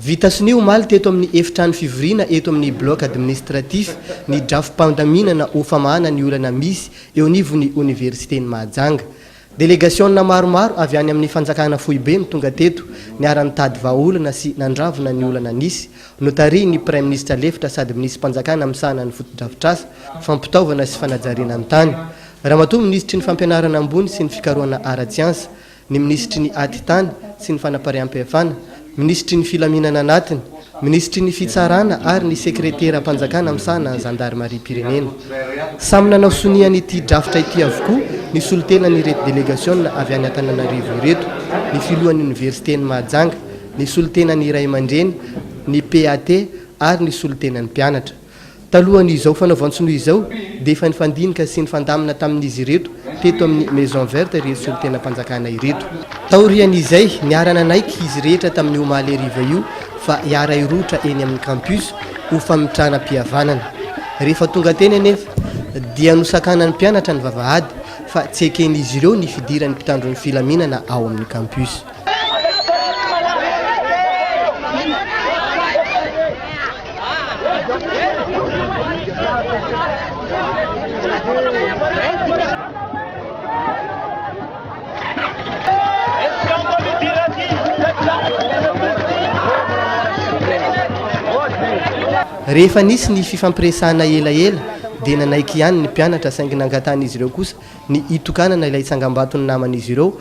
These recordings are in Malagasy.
Vita sonia omaly teto amin'ny efitrano fivoriana eto amin'ny Bloc Administratif ny drafi-pandaminana ho famahana ny olana misy eo anivon'ny Oniversiten'i Mahajanga. Delegasiona maromaro avy any amin'ny fanjakana foibe no tonga teto niara-nitady vahaolana sy nandravona ny olana nisy. Notarihin'ny Praiminisitra lefitra sady Minisiam-panjakana misahana ny fotodrafitrasa, fampitaovana sy fanajariana ny tany, Ramatoa Minisitry ny Fampianarana ambony sy ny fikarohana ara-tsiansa, ny minisitry ny Atitany sy ny Fanapariaham-pihafana, minisitry ny Filaminana Anatiny, minisitry ny Fitsarana ary ny sekreteram-panjakana misahana ny zandarimariam-pirenena. Samy nanao sonia an'ity drafitra ity avokoa ny solontenan'ireto delegasiona avy any Antananarivo ireto, ny filohan'ny oniversiten'i Mahajanga, ny solontenan'ny ray aman-dreny, ny PAT ary ny solontenan'ny mpianatra. Talohan'izao fanaovan-tsonia izao dia efa nifandinika sy nifandamina tamin'izy ireto teto amin'ny Maison Verte ireto solontenam-panjakana ireto. Taorian'izay, niara-nanaiky izy rehetra tamin'ny omaly hariva io fa hiara-hirohotra eny amin'ny Campus ho famitranam-pihavanana. Rehefa tonga teny anefa dia nosakanan'ny mpianatra ny vavahady fa tsy eken'izy ireo ny fidiran'ny mpitandro ny filaminana ao amin'ny Campus. Rehefa nisy ny fifampiresahana elaela dia nanaiky ihany ny mpianatra saingy nangatahan'izy ireo kosa ny hitokanana ilay tsangambaton'ny naman'izy ireo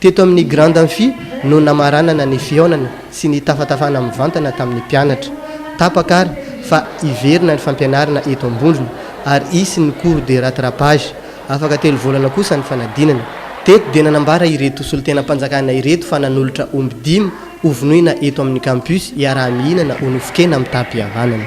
Teto amin'ny Grand Amphi no namaranana ny fihaonana sy ny tafatafana mivantana tamin'ny mpianatra. Tapaka ary fa hiverina ny fampianarana eto Ambondrona ary hisy ny cours de rattrapage. Afaka telo volana kosa ny fanadinana. Teto dia nanambara ireto solontenam-panjakana ireto fa nanolotra omby dimy hovonoina eto amin'ny Campus hiaraha-mihinana ho nofon-kena amin'ny taha-pihavanana.